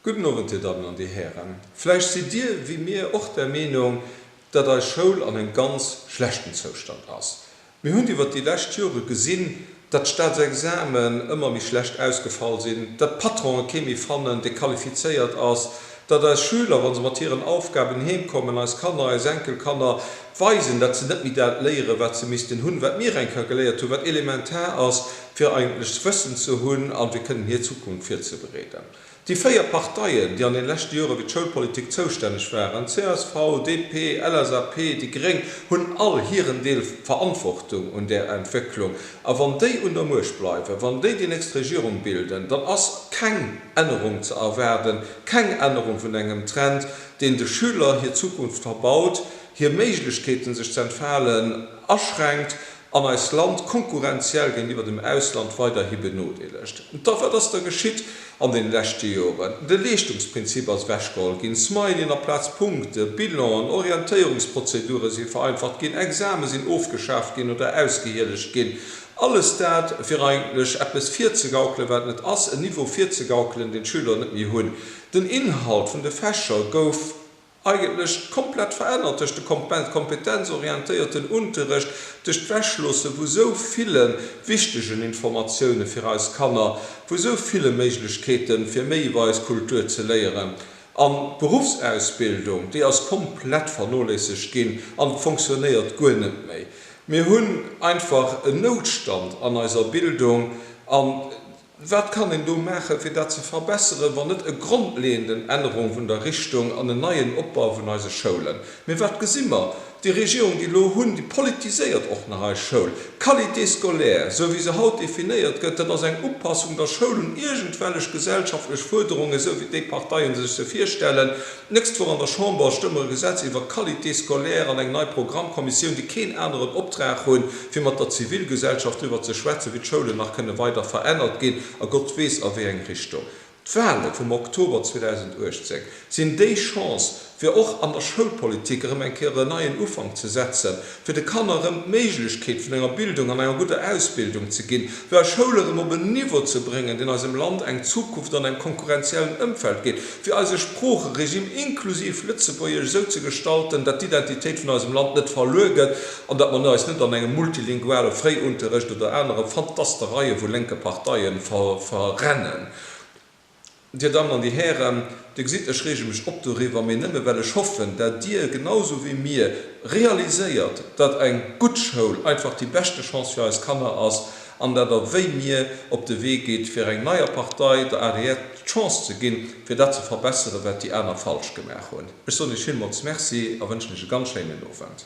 Gudden Owend, Dir Dammen an Dir Hären. Vläicht sidd Dir wéi mir och der Meenung, datt eis Schoul an engem ganz schlechten Zoustand ass. Mir hunn iwwert déi lescht Jore gesinn, datt d'Staatsexamen ëmmer méi schlecht ausgefall sinn, datt d'Patronen kee méi fannen, dee qualifizéiert ass, datt eis Schüler, wa se mat hiren Aufgaben heem kommen, eis Kanner, eis Enkelkanner, weisen, datt se net méi dat léieren, wat se missten hunn, wat mir enker geléiert hunn, wat elementar ass, fir eigentlech Wëssen ze hunn a fir kënnen hir Zukunft virzebereeden. Déi véier Parteien, déi an den leschte Jore fir d'Schoulpolitik zoustänneg waren, csv, DP, LSAP, déi Gréng, hunn all hiren Deel Verantwortung un där Entwécklung. A wann déi un der Muecht bleiwen, wann déi déi nächst Regierung bilden, dann ass keng Ännerung ze erwaarden, keng Ännerung vun engem Trend, deen de Schüler hir Zukunft verbaut, hir Méiglechkeeten sech ze entfalen aschränkt, an eist Land konkurrenziell géintiwwer dem Ausland weiderhi benodeelegt. Da wat ass da geschitt an den leschte Joren? De Leeschtungsprinzip ass ewechgeholl ginn smile Aplaz Punkte, Bilanen, Orientéierungsprozedure si vereinfacht ginn, Exame sinn ofgeschaaft ginn oder ausgehielegt ginn. Alles dat fir eigentlech eppes virzegaukelen wat net ass, en Niveau virzegaukelen deen d'Schüler net méi hunn. Den Inhalt vun de Fächer gouf eigentlech komplett verännert duerch de kompetenzorientéierten Unterrecht, duerch d'Wechloosse vu sou ville wichtegen Informatioune fir eis Kanner, vu sou ville Méiglechkeete fir méi iwwer eis Kultur ze léieren. An d'Beruffsausbildung, déi ass komplett vernoléissegt ginn an fonctionnéiert guer net méi. Mir hunn einfach en Noutstand an eiser Bildung an. Wat kann een do maachen, fir dat ze verbesseren, wann net e grondleeënden Ännerung vun der Richtung an en neien Opbau vun eise Schoulen? Mee wat gesi mer? Déi Regierung, déi elo hunn, déi politiséiert och nach eis Schoul. D'Qualité scolaire, sou wéi se haut definéiert gëtt, dat ass eng Upassung der Schoul un iergendwellech gesellschaftlech Fuerderungen, sou wéi déi Parteien sech se virstellen. D'nächst Woch an der Chamber stëmme mer e Gesetz iwwer d'Qualité scolaire an eng nei Programmkommissioun, déi keen aneren Optrag hunn, fir mat der Zivilgesellschaft driwwer ze schwätzen, wéi d'Schoulen nach kënne weider verännert ginn, a Gott weess a wéi eng Richtung. D'Wale vum Oktober 2018 sinn déi Chance, fir och an der Schoulpolitik erëm eng Kéier en neien Ufank ze setzen. fir de Kanner erëm d'Méiglechkeet vun enger Bildung an enger gudder Ausbildung ze ginn, fir eis Schoul erëm op en Niveau ze bréngen, deen eisem Land eng Zukunft an engem konkurrenziellen Ëmfeld gétt, fir eise Sproocheregime inklusiv Lëtzebuergesch esou ze gestalten, datt d'Identitéit vun eisem Land net verluer gëtt an datt mer eis net an engem multilinguale Fréiunterrecht oder anere Fantastereie vu lénke Parteie verrennen. Dir Dammen an Dir Hären, Dir gesitt, ech reege mech op doriwwer, mee nëmme well ech hoffen, datt Dir genau esou wéi mir realiséiert, datt eng gutt Schoul einfach déi beschte Chance fir eis Kanner ass an datt Der wéi mir op de Wee gitt, fir eng neier Partei, der adr, d'Chance ze ginn, fir dat ze verbesseren, wat déi aner falsch gemaach hunn. Ech soen Iech villmools Merci a wënschen Iech e ganz schéinen Owend.